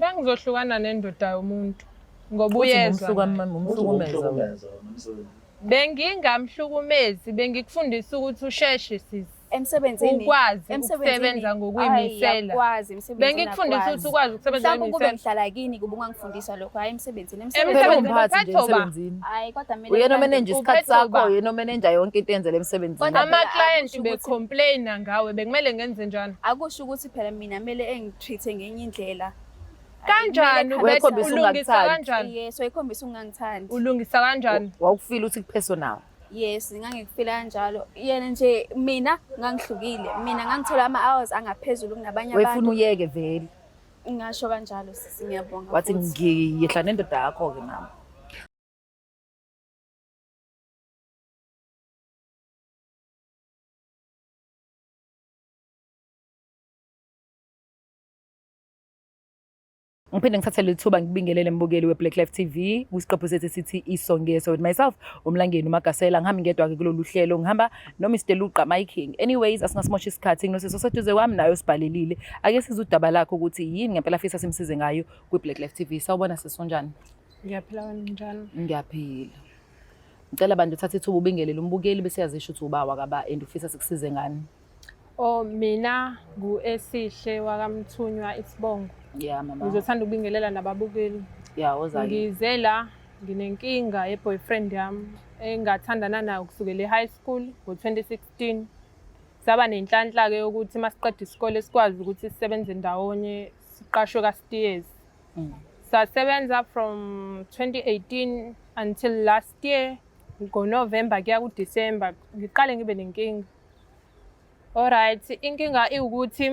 Bengizohlukana nendoda yomuntu ngoba uyezwa. Bengingamhlukumezi, bengikufundisa ukuthi usheshe sisi. Emsebenzini ukwazi ukusebenza ngokuyimisela. Bengikufundisa ukuthi ukwazi ukusebenza ngokuyimisela. Mhlawumbe ukube ngihlala kini kuba ungangifundisa lokho hayi emsebenzini. Emsebenzini emsebenzini. Hayi kodwa mina uyena omenenja isikhathi sakho, uyena omenenja yonke into eyenzela emsebenzini. Ama client be complain ngawe bekumele ngenze njani? Akusho ukuthi phela mina kumele treat-e ngenye indlela kanjani Kumele ubethe ekhombise ulungisa ungakuthathi. kanjani yes wayekhombisa ukungangithandi ulungisa kanjani wawukufila ukuthi ku-personal yes ngangikufila kanjalo yena nje mina ngangihlukile mina ngangithola ama-hours angaphezulu kunabanye wefuna abantu uyeke vele ngasho kanjalo sisi ngiyabonga wathi futhi. ngiyehla nendoda yakho-ke nami ngiphinde ngithathe leli thuba ngibingelele mbukeli we-black life t v kwisiqephu sethu esithi isongeso with myself umlangeni umagasela ngihambe ngedwa-ke kulolu hlelo ngihamba nomr luqa miking anyways asingasimosha isikhathi nginoseso seduze kwami nayo sibhalelile ake size udaba lakho ukuthi yini ngempela fisa simsize ngayo kwi-black life t v sawubona sesonjani ngiyaphila wena njalo ngiyaphila ngicela bantu uthathe ithuba ubingelele umbukeli bese yazisho ukuthi uba wakaba and ufisa sikusize ngani Oh mina ngu Esihle wakamthunywa isibongo. Yeah mama. Ngizothanda ukubingelela nababukeli. Yeah ozali. Ngize la nginenkinga ye boyfriend yami engathandana nayo kusukela e-high school ngo-2016 saba nenhlanhla-ke yokuthi uma siqeda isikole sikwazi ukuthi sisebenze ndawonye siqashwe ka-steers mm. sasebenza from 2018 until last year ngonovemba kuya kudisemba ngiqale ngibe nenkinga Alright, inkinga iwukuthi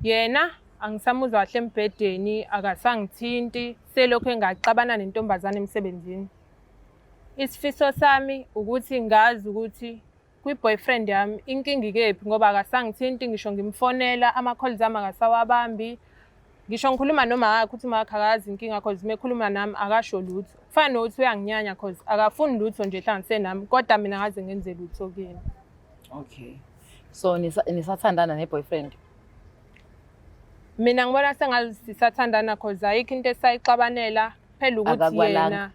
yena angisamuzwa kahle embhedeni akasangithinti selokhu engaxabana nentombazane emsebenzini. Isifiso sami ukuthi ngazi ukuthi kwi-boyfriend yami inkinga ikephi ngoba akasangithinti ngisho ngimfonela ama-calls ami akasawabambi ngisho ngikhuluma noma wakhe uthi umakhe akazi inkinga cause mekhuluma nami akasho lutho kufana nokuthi uyanginyanya cause akafuni lutho nje hlanganise nami kodwa mina ngaze ngenze lutho kuyena okay so nisathandana ne-boyfriend mina ngibona sengasisathandana cause ayikho into esayixabanela phela ukuthi yena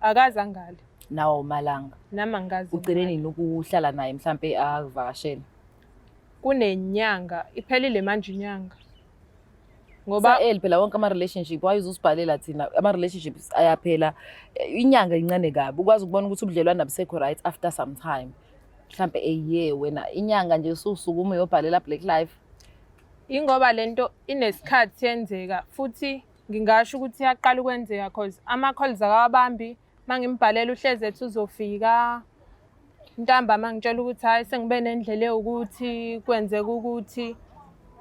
akazi angale nawo umalanga nami angikazi ugcine nini ukuhlala naye mhlampe akuvakashele kunenyanga iphelile manje inyanga ngoba el phela wonke ama relationship why uzusibhalela thina ama relationships ayaphela inyanga incane kabi ukwazi ukubona ukuthi ubudlelwane abusekho right after some time mhlambe a year wena inyanga nje ususuku uma uyobhalela black life ingoba lento inesikhathi yenzeka futhi ngingasho ukuthi yaqala ukwenzeka cause ama calls akawabambi mangimbhalela uhlezi ethi uzofika ntambama ngitshela ukuthi hhayi sengibe nendlela ewukuthi kwenzeka ukuthi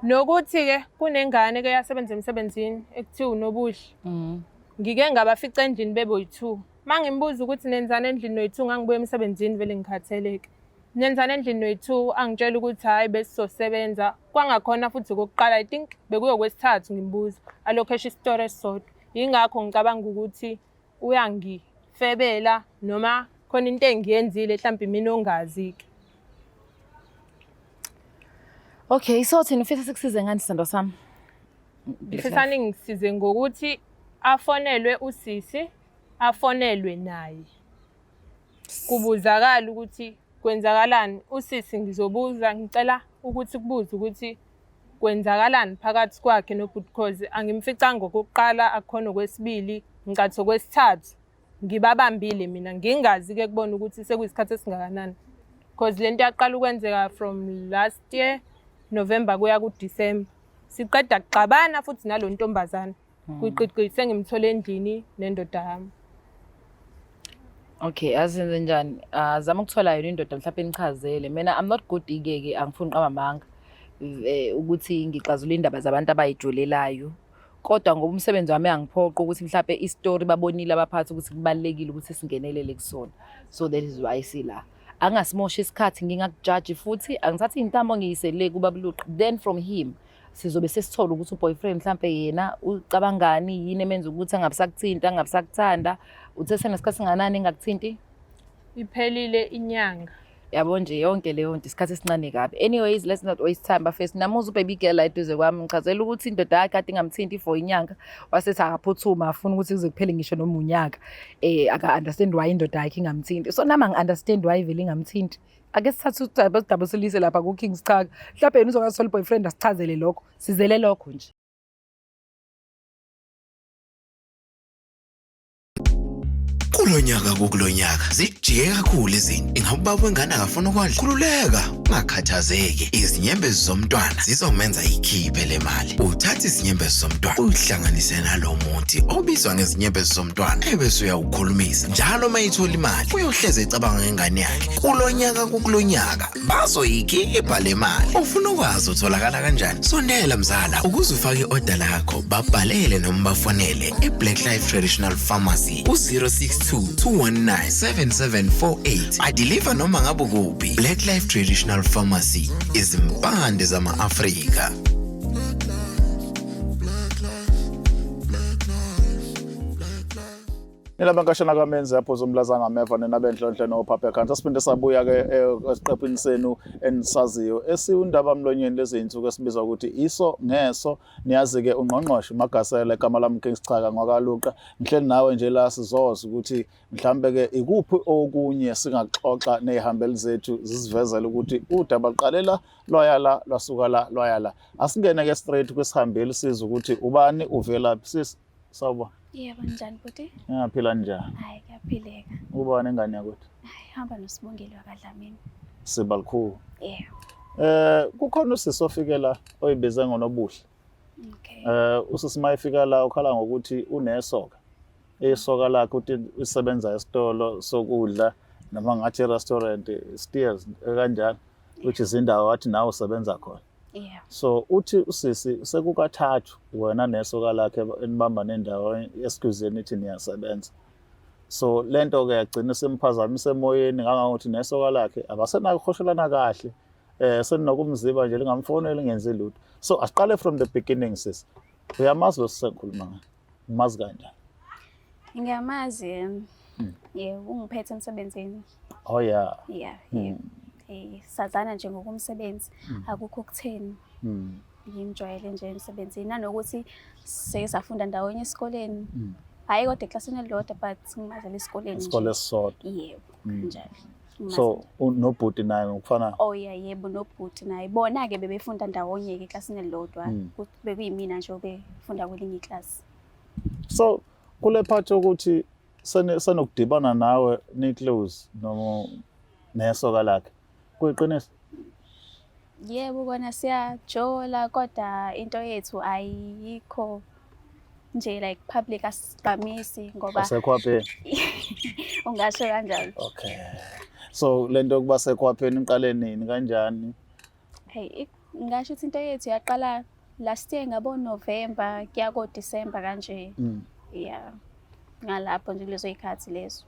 nokuthi-ke kunengane ke yasebenza emsebenzini ekuthiwa unobuhle mm. ngike ngabafica endlini beboyi-two uma ngimbuza ukuthi nenzani endlini noyi-two ngangibuya emsebenzini vele ngikhatheleke nenzani endlini noyi-two angitshela ukuthi hhayi besizosebenza kwangakhona futhi kokuqala i think bekuyokwesithathu ngimbuza alokhu esho isitori esisodwa yingakho ngicabanga ukuthi uyangifebela noma khona into engiyenzile mhlawumbe mina ongazi-ke okay so thina ufisa sikusize ngani sithando sami ngifisa ningisize ngokuthi afonelwe usisi afonelwe naye kubuzakala ukuthi kwenzakalani usisi ngizobuza ngicela ukuthi kubuze ukuthi Kwenzakalani phakathi kwakhe nobhuti Khozi angimficanga okokuqala akukhona okwesibili ngicatha okwesithathu ngibabambile mina ngingazi ke kubona ukuthi sekuyisikhathi esingakanani because lento yaqala ukwenzeka from last year November kuya ku December siqeda kuxabana futhi nalontombazana Hmm. Kuyiqiqi sengimthole endlini nendoda yami. Okay, azenze njani? Ah, zama ukuthola yona indoda mhlawumbe nichazele. Mina I'm not good ikeke, angifuni qaba manga. Eh ukuthi ngixazule indaba zabantu abayijolelayo. Kodwa ngoba umsebenzi wami angiphoqa ukuthi mhlawumbe istory babonile abaphathi ukuthi kubalekile ukuthi singenelele kusona. So that is why sila. angasimoshi isikhathi ngingakujaji futhi angithathi intambo ngiyisele kuba buluqa then from him sizobe sesithola ukuthi uboyfriend mhlambe yena ucabangani yini emenza ukuthi angabisakuthinta angabisakutanda uthe senesikhathi singanani engakuthinti iphelile inyanga yabo nje yonke leyo nto isikhathi esincane kabi anyways let's not waste time bafesi namuza ubaby girl la eduze kwami ngichazela ukuthi indoda yakhe ade ingamthinti for inyanga wasethi akaphuthuma afuna ukuthi kuze kuphele ngisho noma unyaka eh aka-understand why indoda yakhe ingamthinti so nami angi-understand why vele ingamthinti ake sithathe udaba sidaba silise lapha ku-king sichaka mhlawumbe yena uzongasoli boyfriend asichazele lokho sizele lokho nje kulonyaka kukulonyaka zijike kakhulu izinto ingabe ubaba wengane akafuna ukondla khululeka ungakhathazeki izinyembezi zomntwana zizomenza ikhiphe le mali uthathe izinyembezi zomntwana uyihlanganise nalo muthi obizwa ngezinyembezi zomntwana ebese uyawukhulumisa njalo uma ithola imali uyohleze ecabanga ngengane yakhe kulo nyaka kukulo nyaka bazoyikhipha le mali ufuna ukwazi utholakala kanjani sondela mzala ukuze ufake i-oda lakho babhalele noma bafonele i-black life traditional pharmacy ku-062 219 7748 adiliva noma ngabe kuphi black life traditional pharmacy izimpande zama-afrika nilabankashana kamenzi apho zomlazanga ameva nina benhlonhle nophaphekhantsi asiphinde sabuya-ke eh, esiqephini senu enisaziyo esiwundaba mlonyeni leziy'nsuku esibiza ukuthi iso ngeso Niyazi-ke ungqongqoshe uMagasela igama lami King Sichaka ngwakaluqa ngihleli nawe nje la sizoza ukuthi mhlambe-ke ikuphi okunye singaxoxa ney'hambeli zethu zisivezele ukuthi udaba luqale la lwaya la lwasuka la lwaya la asingene-ke straight kwisihambeli siza ukuthi ubani uvelaphi sisi Sawubona. Yebo njani bhuti? Ngiyaphila njani? Hayi kuyaphileka. Ubani engane yakwethu? Hayi hamba noSibongile wakadlamini. Sibalikhulu. Yebo. Eh kukhona usisi ofikela oyibize ngonobuhle. Okay. Eh usisi mayefika la ukhala ngokuthi unesoka. Isoka lakhe uthi usebenza esitolo sokudla noma ngathi restaurant steers kanjalo which is indawo wathi nawe usebenza khona. Yeah. So uthi usisi sekukathathu wena nesoka lakhe enibamba nendawo esikuzeni ithi niyasebenza. So lento ke yagcina simphazamise emoyeni ngangokuthi nesoka lakhe abasenakukhohlelana kahle. Eh seninokumziba nje lingamfonela ngenze lutho. So asiqale from the beginning sis. Uyamazi lo sisengikhuluma ngaye. Umazi kanjani? Ngiyamazi yena. Hmm. Yebo, ungiphethe emsebenzini. Oh yeah. Yeah, hmm. yeah. Eh, sazana nje ngokumsebenzi, hmm. akukho kutheni. Mm. Ngimjwayele nje emsebenzini nanokuthi sesafunda ndawonye esikoleni. Mm. Hayi kodwa eklasini elilodwa but ngimazela esikoleni. Isikole sisodwa. Yebo, kanjalo. so nobhuti naye ngokufanayo oh yeah yebo nobhuti naye bona ke bebefunda ndawonye ke eklasini elilodwa hmm. bekuyimina nje obefunda kwelinye iklasi so kule part yokuthi senokudibana nawe niclose noma nesoka lakhe kuyiqiniso Yebo kona siyajola kodwa into yethu ayikho nje like public asigqamisi ngoba asekhwapheni ungasho kanjalo okay so lento yokuba sekhwapheni iqale nini kanjani hey ngasho ukuthi into yethu yaqala last year ngabo November kuya ko December kanje mm. yeah ngalapho nje kulezo ikhathi lezo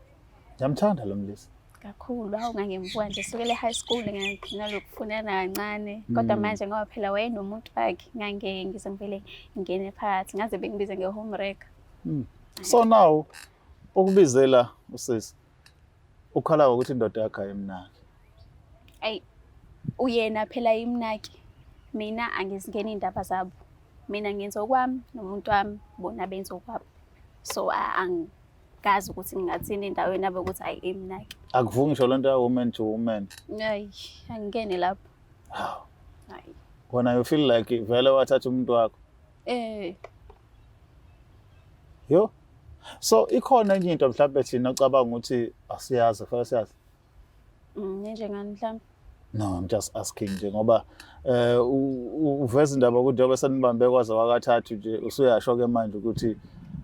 Ngiyamthanda lo mlisa. Kakhulu awu ngangembuka nje sukele high school nginalokufunana kancane kodwa mm. manje ngoba phela wayenomuntu wakhe ngange ngize ngivele ngene phakathi ngaze bengibize nge home wrecker. Mm. So now ukubizela usisi ukhala ukuthi indoda yakhe ayimnaki. Ayi uyena phela imnaki mina angizingeni indaba zabo. Mina ngenza okwami nomuntu wami bona benza okwabo. So ang ngazi ukuthi ngingathini endaweni abe ukuthi ayi imnaki akuvumi ngisho lento ya woman to woman ayi angikene lapho haw ayi wena you feel like vele wathatha umuntu wakho eh yo so ikhona enye into mhlawumbe thina ocabanga ukuthi asiyazi fanele siyazi Mm, njengani mhlawumbe? No, I'm just asking nje ngoba eh uveza indaba ukuthi njengoba senibambe kwaze wakathathu nje usuyasho ke manje ukuthi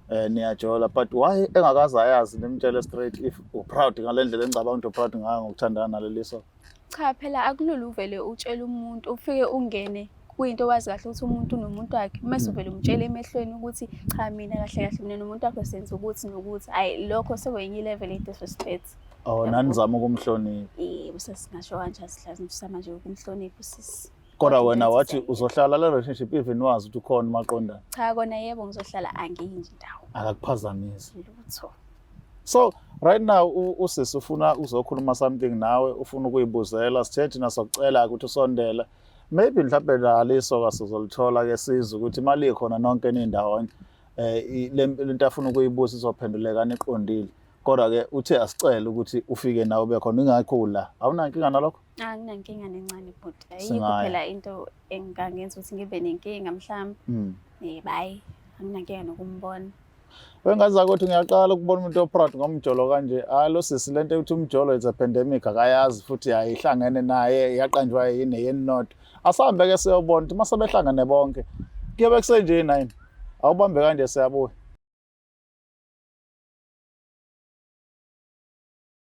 eh niyajola but why engakaze ayazi nimtshele straight if u proud ngalendlela engicabanga ukuthi u proud ngayo ngokuthandana naleliso cha phela akulula uvele utshele umuntu ufike ungene kuyinto wazi kahle ukuthi umuntu nomuntu wakhe uma mm. suvele umtshele emehlweni ukuthi cha mina kahle kahle mina nomuntu wakho senza ukuthi nokuthi hayi lokho sekwenye ilevel ye-disrespect usisi oh nanizama ukumhlonipha eh usisi ngasho kanje asihlazi usama nje ukumhlonipha usisi kodwa wena wathi uzohlala le relationship even wazi ukuthi ukhona umaqondana cha kona yebo ngizohlala angiyi nje ndawo akakuphazamisi lutho so right now usisi ufuna uzokhuluma something nawe ufuna ukuyibuzela sithe thina sokucela ukuthi usondele maybe mhlawumbe laliso kasizolithola ke sizwe ukuthi imali ikhona nonke nindawonye eh lento afuna ukuyibuza izophenduleka niqondile Kodwa-ke uthe asicele ukuthi ufike nawe ube khona ingakho ula. Awunankinga nalokho? Anginankinga nencane bhuti. Ayikho Singaya. phela into engangenza ukuthi ngibe nenkinga mhlawumbe. Mm. Eh bayi, anginankinga nokumbona. Wengazi ukuthi ngiyaqala ukubona umuntu oproud ngomjolo kanje. Hayi lo sisi lento ukuthi umjolo is a pandemic akayazi futhi ayihlangene naye yaqanjwa yini yini not. Asambe ke siyobona ukuthi mase behlangene bonke. Kuyobe kusenje nine. Awubambe kanje siyabuya.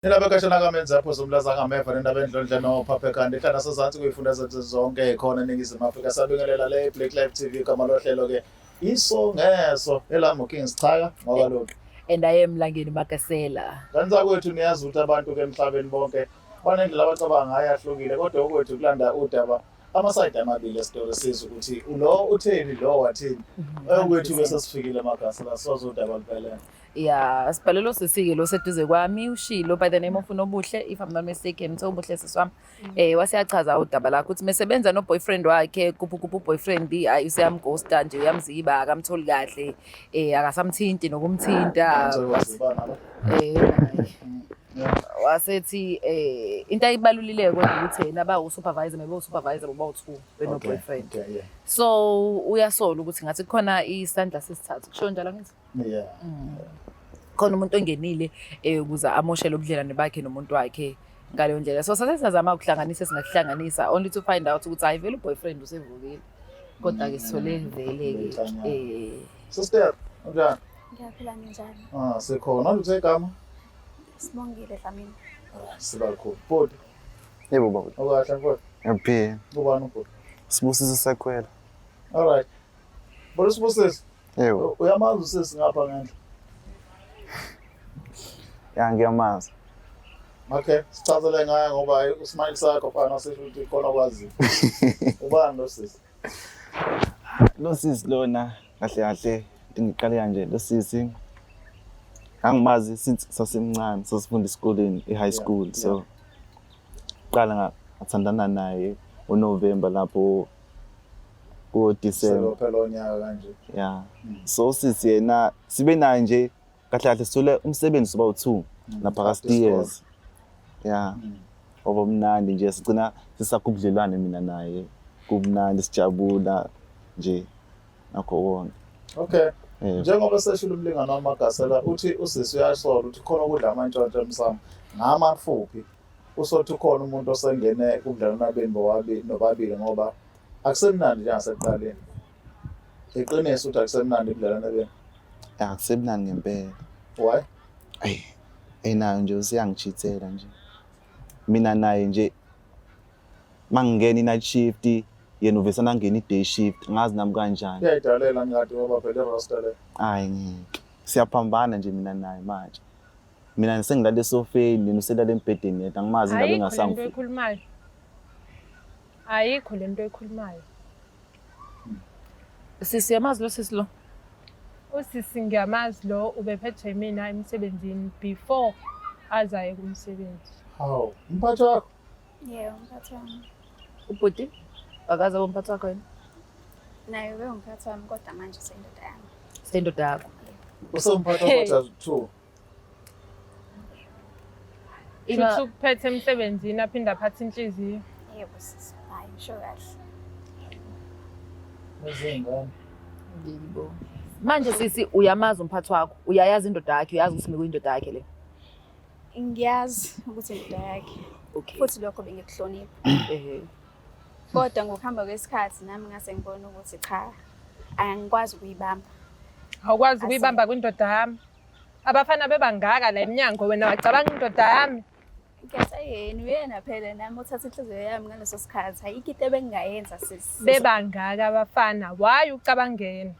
Indaba ekashana kamenza yaphosa umlaza angameva nendaba endlondle nophaphe kanti ihlala sezansi kuyifunda zethu zonke khona eningizimu afrika siyabingelela le black life tv igama lohlelo ke iso ngeso elami uking sichaka ngoba lokhu and aye emlangeni magasela kanti zakwethu niyazi ukuthi abantu ke emhlabeni bonke banendlela abacabanga ngayo ahlukile kodwa okwethu kulanda udaba amasayidi amabili esitolo siza ukuthi lo utheni lo wathini mhm. okwethu bese sifikile amagasi la sizodaba luphelele ya sibhalelo sisike lo seduze kwami ushilo by the name of unobuhle if i'm not mistaken so ubuhle siswami mm. eh wasiyachaza udaba lakho ukuthi mesebenza no boyfriend wakhe kuphu kuphu boyfriend ayi useyamghosta nje uyamziba akamtholi kahle eh akasamthinti nokumthinta eh wasethi eh into ayibalulile kodwa ukuthi yena aba usupervisor maybe usupervisor boba uthu beno boyfriend so uyasola ukuthi ngathi khona isandla sesithathu kusho njalo ngithi yeah mm. khona umuntu ongenile eh ukuze amoshele ubudlelwane bakhe nomuntu wakhe ngaleyo ndlela so sase sazama ukuhlanganisa singakuhlanganisa only to find out ukuthi hayi vele uboyfriend usevukile kodwa ke sithole mm. vele ke eh sister unjani ngiyaphila njalo ah sekhona uthi igama Sibongile Dlamini. Ah, Sibakhulu. Bhuti. Yebo baba. Ukahle mfowethu? Ngiyaphila. Ubani ubhuti? Sibusiso Sakhwela. All right. Bolo Sibusiso. Yebo. Uyamazi usisi ngapha ngendla. Ya ngiyamazi. Okay, sichazele ngaye ngoba usmile sakho fana sisho ukuthi khona kwazi. Ubani lo sisi? Lo sisi lona kahle kahle ngiqale kanje lo sisi angimazi since sasemncane sasifunda esikoleni e-high school so qala ngathandana naye uNovember lapho ku-December phela onyaka kanje yeah so sisi yena sibe naye nje kahle kahle sithole umsebenzi soba u-two mm. naphakathi years ya mm. oba mnandi nje sigcina sisakubudlelwane mina naye kumnandi sijabula nje nakho konke okay njengoba seshilo umlingano wamagasela uthi usisi uyasola ukuthi khona ukudla amantshontsho emsamo ngamafuphi usothi ukhona umuntu osengene kubudlelwana benu bobabili nobabili ngoba akusemnandi njengasekuqaleni Iqiniso ukuthi akusemnandi ukudlala nabena. Akusemnandi ngempela. Why? Ay. Enayo nje usiyangichithela nje. Mina naye nje mangingena i-night shift yena uvese nangena i-day shift ngazi nami kanjani. Uyayidalela ngadi ngoba phela i-roster le. Hayi ngeke. Siyaphambana nje mina naye manje. Mina sengilale esofeni, yena uselale embhedeni yedwa angimazi ngabe ngasangifu. Hayi khona into ekhulumayo. Ayikho le nto ekhulumayo. Sisi yamazi lo sisi lo. Usisi ngiyamazi lo ubephethe mina emsebenzini before azaye kumsebenzi. Hawu, umphathi wakho? Yebo, umphathi wami. Ubhuti akaze umphathi wakho yini? Naye ube umphathi wami kodwa manje sendoda yami. Sendoda yakho. Usomphathi wakho just two. Thuthu ukuphethe emsebenzini aphinde aphathe inhliziyo. Yebo sisi. Hayi ngisho kahle. Nezingane. Yebo. Manje sisi uyamazi umphathi wakho, uyayazi indoda yakhe, uyazi ukuthi mikuyindoda yakhe le. Ngiyazi ukuthi indoda yakhe. Okay. Futhi lokho bengikuhlonipha. Ehhe. Kodwa ngokuhamba kwesikhathi nami ngase ngibona ukuthi cha angikwazi ukuyibamba. Awukwazi ukuyibamba kwindoda yami. Abafana bebangaka la emnyango wena wacabanga indoda yami. Ngiyasha yena uyena phela nami uthatha inhliziyo yami ngaleso sikhathi. Ayikho into ebengingayenza sisi. Bebangaka abafana. Why ucabangeni?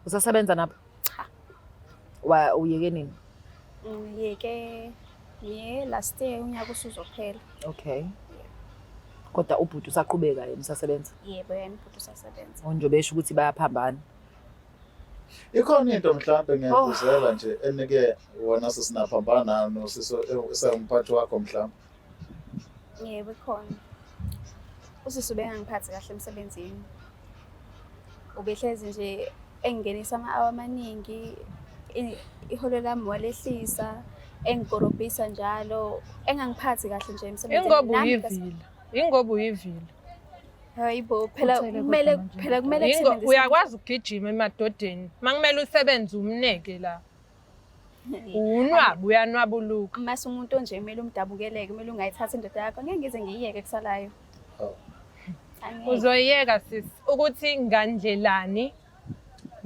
Usasebenza napho? Cha. Wa uyeke nini? Ngiyeke ye last year unyaka usuzophela. Okay. Kodwa ubhuti usaqhubeka yena usasebenza? Yebo yena ubhuti usasebenza. Onje besho ukuthi bayaphambana. Ikhona into mhlawumbe ngiyakuzela nje enike wona sisinaphambana nayo nosiso esawumphathi wakho mhlawumbe. Yebo khona. Usisi ubengangiphathi kahle emsebenzini. Ubehlezi nje engingenisa ama-awa amaningi iholo lami walehlisa engikorobhisa njalo engangiphathi kahle nje emsebenzini. Ingoba uyivila. Ingoba uyivila. Hayibo phela kumele phela kumele uyakwazi ukugijima emadodeni. Makumele usebenze umneke la. Unwabu uyanwabuluka. Uma umuntu onje kumele umdabukeleke, kumele ungayithatha indoda yakho. Ngeke ngize ngiyiyeke kusalayo. Oh. Uzoyeka sis ukuthi ngandlelani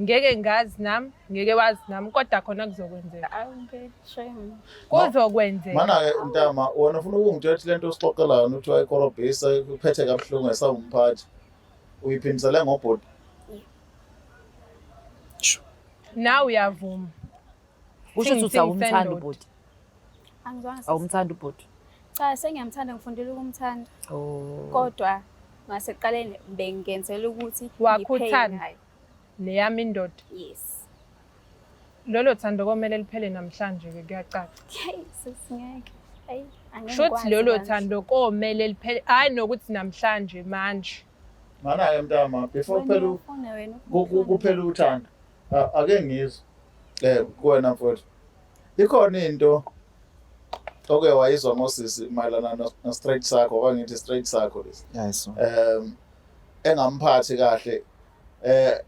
ngeke ngazi nam ngeke wazi nam kodwa khona kuzokwenzeka kuzokwenzeka mana-ke ntama wena ufuna ukungitshela ukuthi le nto osixoxela yona ukuthi wayikorobhisa kuphethe kabuhlungu esawumphathi uyiphindisele ngobhodi Nawe uyavuma. Kusho ukuthi uthi awumthandi ubhuti. Angizwanga. Awumthandi ubhuti. Cha sengiyamthanda ngifundile ukumthanda. Oh. Kodwa ngaseqaleni bengenzela ukuthi wakhuthana neyami indoda. Yes. Lolo thando komele liphele namhlanje ke kuyacaca. Hey sesingeke. Ayi angeke. Shothi lolo thando komele liphele. Hayi nokuthi namhlanje manje. Ngana-ke mntama before kuphela kuphela uthando ake ngizwe um kuwena mfowethu ikhona into oke wayizwa ngosisi mayelana no-straight sakho okangithi straight sakho lesi um engamphathi kahle eh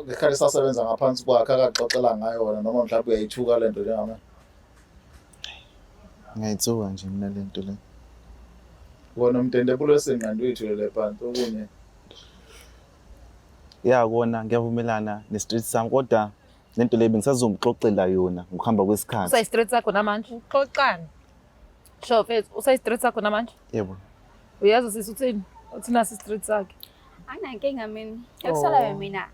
ngekhale sasebenza ngaphansi kwakhe akaxoxela ngayo wona noma mhlawumbe uyayithuka lento njengamanje Ngayitsuka nje mina le nto le. Kona umtende bulo senqanda uyithule le phansi okunye. Ya kona ngiyavumelana ne-street sam kodwa le nto le bengisazomxoxela yona ngokuhamba kwesikhathi. Usayi-street sakho namanje? Xoxani. Sho mfethu, usayi-street sakho namanje? Yebo. Uyazi usisi uthini? Uthina si-street sakhe. Anginankinga mina. Ekusalayo mina.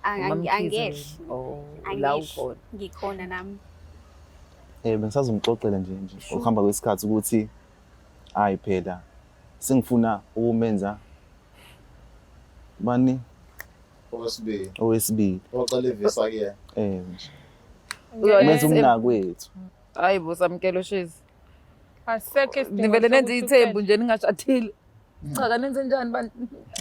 Ang- Umam ang- Khize angehli mina. Oh, la angehli ukhona. ngikhona nami Eh bengisazomxoxela nje nje Sure. ukuhamba kwesikhathi ukuthi hayi phela sengifuna ukumenza bani Owesibili. owesibili Oqala ivisa kuyena. eh nje. Uyoyenza Umenza umnakwethu. Hayi bo samkelo shizi. asekho isidingo nivele nenze sokuthi ithembu uphele. nje ningashadile cha kanenze njani bantu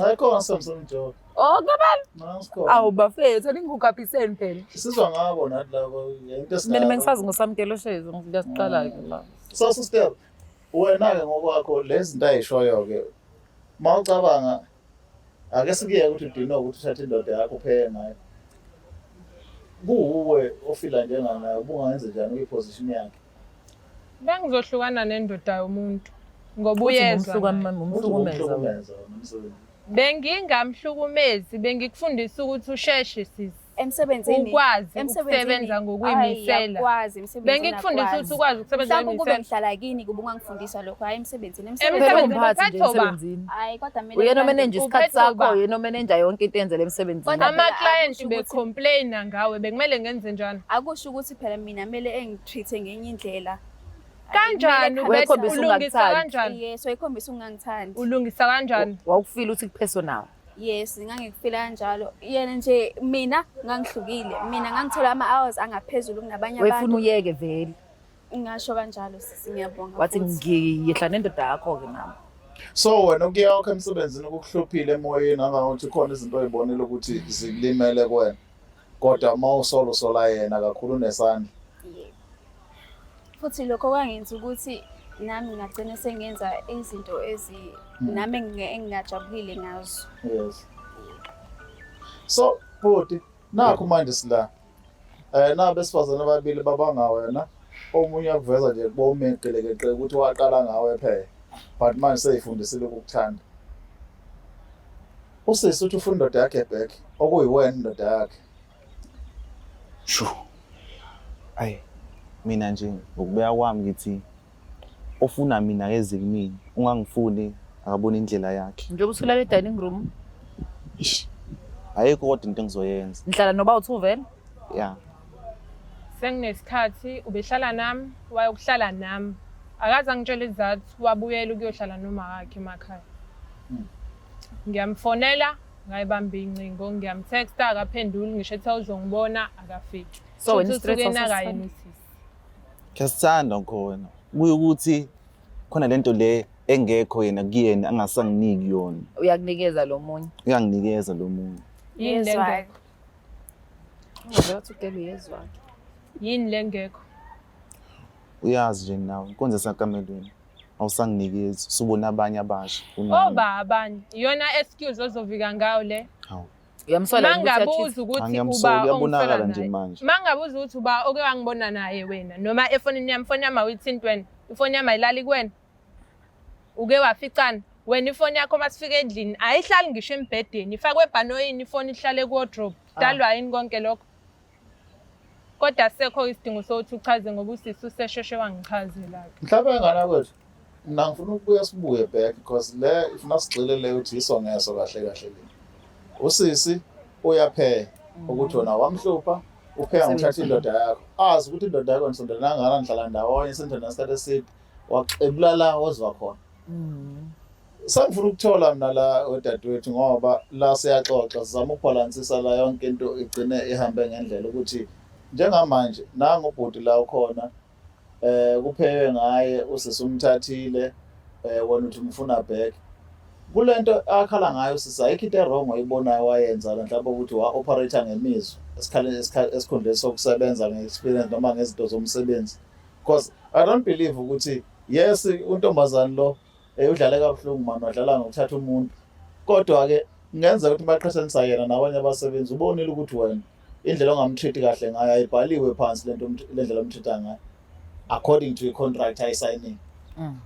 Ayikho ngasemsini joke. oh kabani Nasikhona. awu bafethu ningikukaphiseni phela Sizwa ngabo nathi labo yento esinayo. mina bengisazi ngosamkelo shezi ngiyasiqala-ke la Sasustep wena-ke ngokwakho lezi zinto ayishoyo-ke uma ucabanga ake sikuyeke ukuthi udinwe ukuthi uthathe indoda yakho upheke ngayo kuwuwe ofila njenganayo ubungayenze njani uyiposition yakhe bengizohlukana nendoda yomuntu ngoba uyezwa bengingamhlukumezi bengikufundisa ukuthi usheshe sisi emsebenzini ukwazi ukusebenza ngokuyimisela ukwazi emsebenzini bengikufundisa ukuthi ukwazi ukusebenza ngokuyimisela mhlawumbe kube ngihlala kini kube ungangifundisa lokho hayi emsebenzini emsebenzini hayi kodwa mina uyena omenenja isikhathi sakho uyena omenenja yonke into enzele emsebenzini ama client be complain ngawe bekumele ngenze njani akusho ukuthi phela mina mele engitreate ngenye indlela kanjani ulungisa kanjani yes wayikhombisa ungangithandi ulungisa kanjani wawufila ukuthi kupersonal Yes, ngangikufila kanjalo. Yena nje mina ngangihlukile. Mina ngangithola ama hours angaphezulu kunabanye abantu. Wefuna uyeke vele. Ngasho kanjalo sisi ngiyabonga. Wathi ngiyehla nendoda yakho ke mama. So wena ukuya wakho emsebenzini ukuhluphile emoyeni angangothi khona izinto oyibonile ukuthi zikulimele kwena. kodwa uma usola usola yena kakhulu unesandla futhi lokho kwangenza ukuthi nami ngagcina sengenza izinto ezi hmm. nami engingajabulile ngazo yes so bhuti nakho manje sila eh na besifazane ababili babanga wena omunye akuveza nje kuba umeqelekeqe ukuthi waqala ngawe phela but manje seyifundisile ukukuthanda Usisi uthi ufuna indoda yakhe back okuyiwena indoda yakhe. Shu. Ayi mina nje ngokubeya kwami ngithi ofuna mina akeze kumina ungangifuni akabona indlela yakhe. Njengoba usulala e-dining room Ish. Ayikho kodwa into engizoyenza. ngihlala noba uthi uvela. Yeah. Senginesikhathi ubehlala nami wayokuhlala nami. Akaze angitshele izathu wabuyela ukuyohlala nomawakhe emakhaya. ngiyamfonela ngayibamba iy'ncingo ngiyamtexta akaphenduli ngisho ethiwa uzongibona akafiki So wena Futhi i-stress usuke wasesifana. enakayini usisi Ngiyathanda ngikho wena. Kuye ukuthi khona lento le engekho yena kuyena angasanginiki yona. uyakunikeza lo munye Uyanginikeza lo muntu. yini le Yezwa. ngekho ungavela ukuthi ugele uyezwake yini le ngekho Uyazi nje nawe inkonzo esakamelweni. awusanginikezi usubona abanye abasha kunami. oba abanye iyona excuse ozovika ngayo le Hawu. Uyamsola yini ukuthi mangabuza achithi? ukuthi Angiyamsoli, uba uyabonakala ongifela nje naye manje. mangabuza ukuthi uba oke wangibona naye wena noma efonini yami ifoni yami awuyithinti wena ifoni yami ayilali kuwena uke waficana wena ifoni yakho uma sifika endlini ayihlali ngisho embhedeni ifakwe ebhanoyini ifoni ihlale kuwodrop dalwa yini konke lokho kodwa sekho isidingo sokuthi uchaze ngoba usisi usesheshe wangichazela-ke mhlawumbe engana kwethu mna ngifuna ukubuya sibuye back because le ifuna sigxile le ukuthi yiso ngeso kahle kahle le usisi uyapheya mm. ukuthi wona wamhlupha upheka ngithatha indoda yakho azi ukuthi indoda yakho nisondelana ngana nihlala ndawonye sendona isikhathi eside waxebula la ozwa khona mm. sangifuna ukuthola mina la odadewethu ngoba la siyaxoxa sizama ukubhalansisa la yonke into igcine ihambe ngendlela ukuthi njengamanje nangu ubhuti la ukhona eh kupheke ngaye usisi umthathile eh wona uthi umfuna back kulento akhala ngayo sisi ayikho into ewrong oyibonayo wayenza mhlawumbe ukuthi wa operator ngemizwa esikhaleni esikhundleni sokusebenza nge-experience noma ngezinto zomsebenzi because i don't believe ukuthi yes untombazane lo eh, udlale kabuhlungu mani wadlala ngokuthatha umuntu kodwa-ke kungenza ukuthi baqhathanisa yena nabanye abasebenzi ubonile ukuthi wena indlela ongamtreat kahle ngayo ayibhaliwe phansi lento le ndlela omtreat ngayo according to i-contract ayisayinile mm.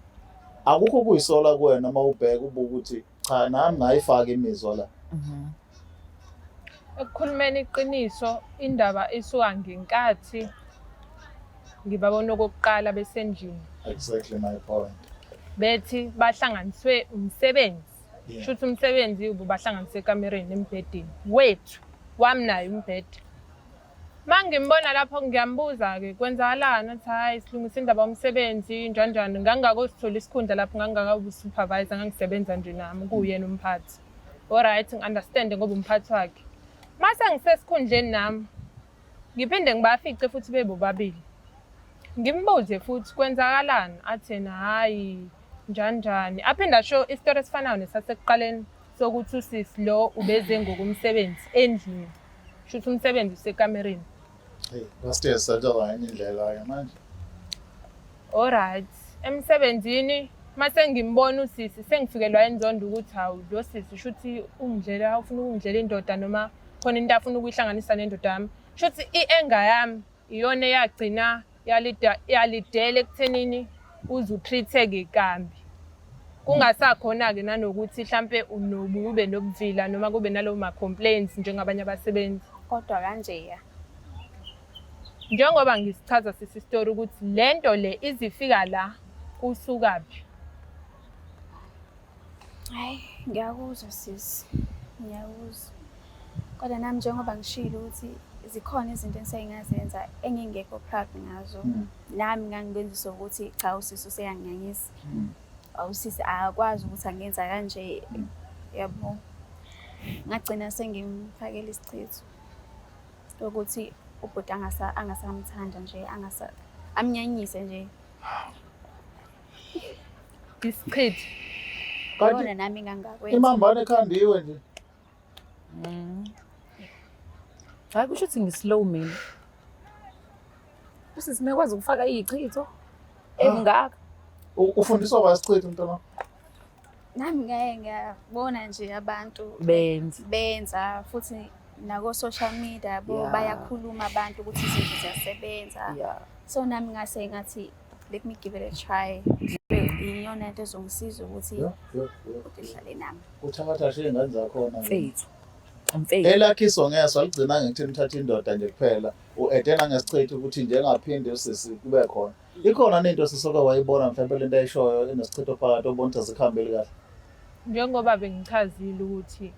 akukho kuyisola kuwena uma ubheka ubuka ukuthi cha nami ngayifaka imizwa la Mhm. ekukhulumeni iqiniso indaba isuka ngenkathi ngibabona okokuqala besendlini exactly my point bethi bahlanganiswe umsebenzi Yeah. sho ukuthi umsebenzi ububahlanganise ekamereni embhedeni wethu wami naye umbhede Uma ngimbona lapho ngiyambuza-ke kwenzakalani athi hhayi silungisa indaba yomsebenzi njanjani ngangingakosithola isikhundla lapho ngangingakawusupervisor ngangisebenza nje nami kuwuyena umphathi oryt ngi-understande ngoba umphathi wakhe uma sengisesikhundleni nami ngiphinde ngibafice futhi bebobabili ngimbuze futhi kwenzakalani athena hhayi njanjani aphinde asho isitori esifanayo nesasekuqaleni sokuthi usisi lo ubeze ngokumsebenzi endlini sho ukuthi umsebenzi usekamereni Pastor Sadola enye indlela ke manje. Alright. Emsebenzini mase ngimbona usisi sengifikelwa inzondo ukuthi hawu lo sisi shuthi ungidlela ufuna ukungidlela indoda noma khona into afuna ukuyihlanganisa nendoda yami. Shuthi i-anger yami iyona eyagcina yalidela ekuthenini uze utreat-eke kambi kungasakhona-ke nanokuthi hlampe kube nobuvila noma kube nalowo ma-complaints njengabanye abasebenzi kodwa kanjeya njengoba ngisichaza sisi story ukuthi le nto le izifika la kusukaphi Hayi, ngiyakuzwa sisi, ngiyakuzwa. Kodwa nami njengoba ngishilo ukuthi zikhona izinto engisake ngazenza engingekho proud ngazo. Mm. Nami ngangibenzisa ukuthi cha usisi useyanginyanyisa. Mm. Awusisi akakwazi ukuthi angenza kanje. Mm. Yabo. Ngagcina sengimfakela isichitho ukuthi ubhuti angasa angasamthanda nje angasa amnyanyise nje. Isichithi. Kanti Yona nami ngangakwenza. imambane ekhanda iwe nje. Hayi kusho ukuthi ngislow mina. Usisi mekwazi ukufaka iyichitho engaka. U- Ufundiswa wasichitha mntwana. nami ngeke ngiyabona nje abantu benza benza futhi nako social media bo yeah. bayakhuluma abantu ukuthi izinto ziyasebenza yeah. so nami ngase ngathi let me give it a try iyona into ezongisiza ukuthi ngihlale nami uthatha nje ingane zakhona mfethu mfethu elakhe isongeso aligcina ngekuthi lithatha indoda nje kuphela u-edena ngesichitha ukuthi njengaphinde usisi kube khona ikhona nento esisoke wayibona mhlawumbe le nto ayishoyo enesichitho phakathi obona ukuthi azikhambeli kahle njengoba bengichazile ukuthi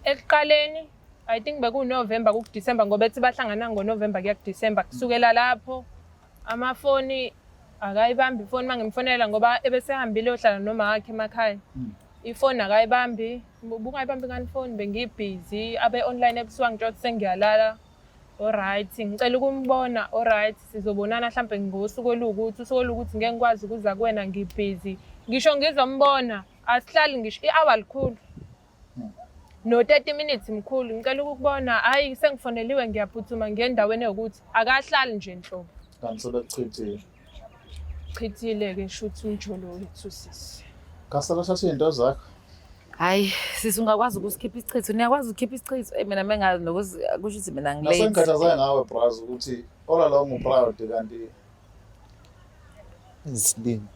ekuqaleni i think bekuwunovemba kukudisemba ngoba ethi bahlangana ngonovemba kuya kudisemba kusukela lapho amafoni akayibambi ifoni uma ngimfonela ngoba ebesehambile yohlala noma wakhe emakhaya hmm. ifoni akayibambi ubungayibambi ngani ifoni bengiyibhizi abe-online ebusuku angitsho ukuthi sengiyalala Alright, ngicela ukumbona. Alright, sizobonana mhlambe ngosuku olukuthi, usuku olukuthi ngeke ngikwazi ukuza kuwena ngibhizi. Ngisho ngizombona, asihlali ngisho i-hour likhulu. Hmm. No 30 minutes mkhulu, ngicela ukukubona. Hayi sengifoneliwe ngiyaphuthuma ngiye endaweni yokuthi akahlali nje nhlobo. Kanti sebekuchithile. Chithile ke shuthi umjolo wethu sisi. Kasala thatha izinto zakho. Hayi sisi ungakwazi ukusikhipha isichitho. Niyakwazi ukukhipha isichitho. Eh mina mengazi nokuthi kusho ukuthi mina ngilate. Nasengikhathazayo ngawe Braz ukuthi all along u proud kanti isilima.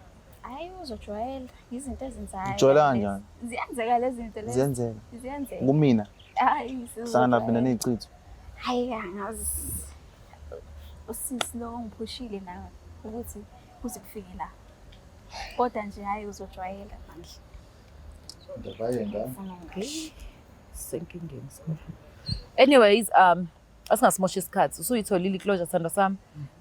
Hayi uzojwayela izinto ezenzayo. Ujwayela kanjani? Ziyenzeka lezi zinto lezi. Ziyenzeka. Ziyenzeka. Kumina. Hayi sizwe. Sana mina nezichitho. Hayi angazi. usisi lo ongiphushile nawe ukuthi kuze kufike la kodwa nje hhayi uzojwayela manje senkingeni anyways um asingasimoshi isikhathi usuyitholile iclosure sithandwa sami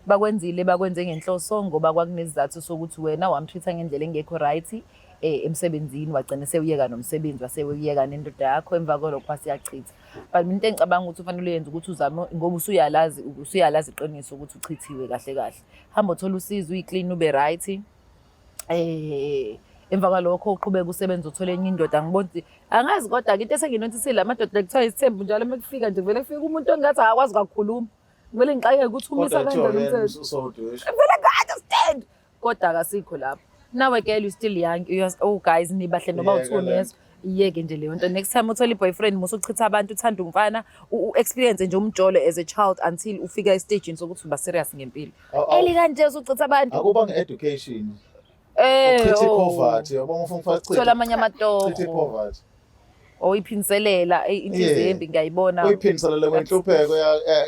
bakwenzile bakwenze ngenhloso ngoba kwakunesizathu sokuthi wena wamtreat-a ngendlela engekho right eh, emsebenzini wagcina sewuyeka nomsebenzi wasewuyeka nendoda yakho emva kwalokho wasiyachitha but mina into engicabanga ukuthi ufanele uyenze ukuthi uzame ngoba usuyalazi usuyalazi iqiniso ukuthi uchithiwe kahle kahle hamba uthola usizo uyiklini ube right eh emva kwalokho uqhubeka usebenza uthole enye indoda ngibona ukuthi angazi kodwa-ke into esenginotisile amadoda kuthiwa isithembu njalo uma kufika nje kuvele kufika umuntu ongathi akakwazi kakhuluma kumele ngixakeke ukuthi umisa kanjani umthetho vele kade stand kodwa akasikho lapho nawe girl you still young you just, oh guys nibahle noma Yeka uthuni le yeso iyeke nje leyo nto next time uthola i-boyfriend musa uchitha abantu uthanda umfana u- u-experience nje umjolo as a child until ufika estagini sokuthi uba serious ngempilo Aw, aw. eli kanje usuchitha abantu Akuba nge-education. Eh, Uchithe oh. i-poverty. Yabona ufuna ukufaka Thola amanye chithe amatoho poverty. oyiphinselela inhliziyo embi ngiyayibona oyiphinselela kwenhlupheko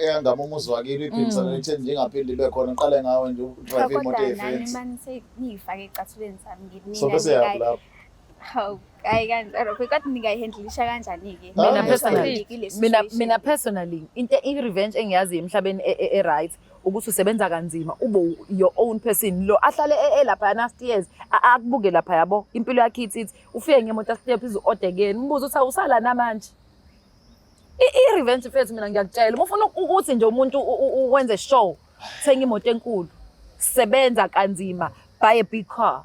eyangama umuzi wakini uyiphinselela mm. itheni ngingaphindi ibe khona ngiqale ngawe nje udrive imoto yefensi manje sengiyifake ecathulweni sami ngimina so bese yaphi hawu hayi kanjalo kodwa ningayihandlisha kanjani-ke ah, mina personally mina mina personally into i-revenge engiyazi emhlabeni e, e, e-right ukuthi usebenza kanzima ube your own person lo ahlale e, e lapha yana stairs akubuke lapha yabo impilo yakhe ithi ithi ufike ngemotor step izu-odekeni umbuzo uthi awusala namanje i-revenge fethu mina ngiyakutshela uma ufuna ukuthi nje umuntu wenze show thenga imoto enkulu sebenza kanzima buy a big car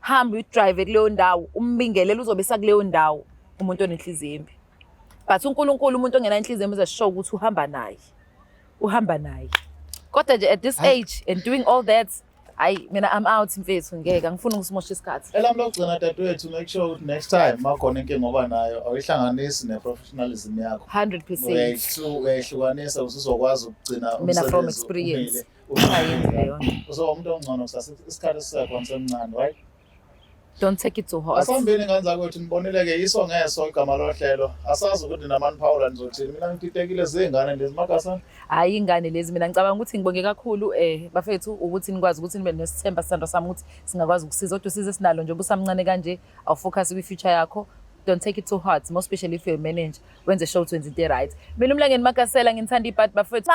hamba uyidrive kuleyo ndawo umbingelele uzobe sakuleyo ndawo umuntu onenhliziyo embi but unkulunkulu umuntu ongena inhliziyo embi uzashow ukuthi uhamba naye uhamba naye kodwa nje at this age and doing all that hayi mina i'm out mfethu ngeke angifuni ukusimosha isikhathi elami lokugcina dadewethu make sure ukuthi next time makhona inkinga oba nayo awuyihlanganisi ne-professionalism yakho 100 percent uyayihlukanisa usuzokwazi ukugcina mina from experience umuntu ongcono kusasa isikhathi sisekhona semncane right Don't take it to heart. Asambeni ngane zakwethu niboneleke iso ngeso igama lohlelo. Asazi ukuthi namani Paula nizothini. Mina ngipitekile zingane lezi makasa. Hayi ingane lezi mina ngicabanga ukuthi ngibonge kakhulu eh bafethu ukuthi nikwazi ukuthi nibe nesithemba sisando sami ukuthi singakwazi ukusiza kodwa usize sinalo nje ubusamncane kanje awu focus kwi future yakho don't take it too hard more especially if you're a manager wenze show 20 right mina umlangeni makasela nginithanda ibhadi bafethu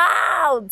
out